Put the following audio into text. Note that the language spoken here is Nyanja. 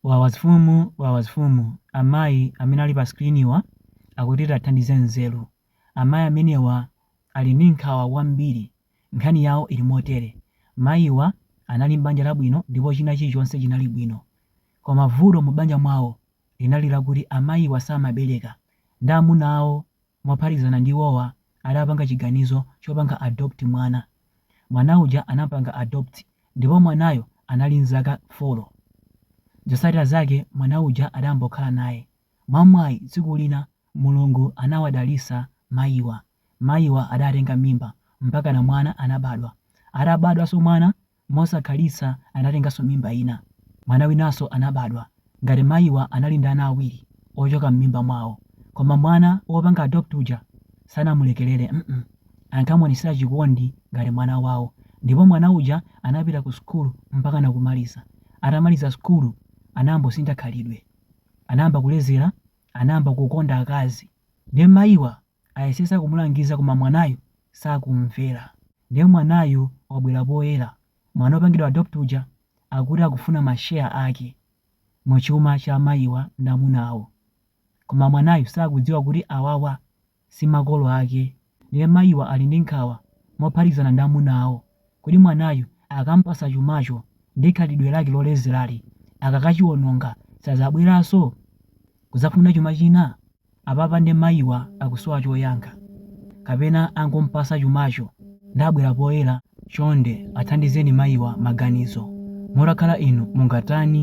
Wawazfumu Wawazfumu Amayi amene ali pa screen wa akuti tiwathandize nzeru amayi amenewa ali ndi nkhawa kwambiri nkhani yawo ili motere mayi wa anali m'banja labwino ndipo china chilichonse chinali bwino koma vuto mu banja mwawo linali lakuti amayiwa samabereka ndi amuna awo Mophatikizana ndi iwowa adapanga chiganizo chopanga adopt mwana. Mwana uja anampanga adopt ndipo mwanayo anali nzaka folo. Zotsatira zake mwana uja adambokhala naye. Mwamwayi tsiku lina Mulungu anawadalitsa mayiwa. Mayiwa adatenga mimba mpaka na mwana anabadwa. Atabadwanso mwana Mosakhalitsa anatenganso mimba ina. Mwana winanso anabadwa. Ngati mayiwa anali ndi ana awiri ochoka m'mimba mwawo. Koma mwana wopanga adopt uja sanamulekerere mm. Ankamuonetsera chikondi ngati mwana wawo. Ndipo mwana uja anapita ku school mpakana kumaliza. Atamaliza school anambosintha khalidwe. Anayamba kulezera, anayamba kukonda akazi. Nde mayiwa Ayesesa kumulangiza koma mwanayo sakumvera. Nde mwanayo wabwera poyera. Mwana opangidwa adopt uja akuti akufuna ma share ake mu chuma cha mayiwa ndi amuna awo. Koma mwanayu sakudziwa kuti awawa si makolo ake. Nde mayiwa ali ndi nkhawa mophatikizana ndi amuna awo kodi mwanayu akampasa chumacho ndi khalidwe lake lolezerali akakachiononga sazabweranso kuzafuna chuma china? Apapa nde mayiwa akusowa choyankha kapena angompasa chumacho nde abwera poyera? Chonde athandizeni mayiwa maganizo. Mutakhala inu mungatani?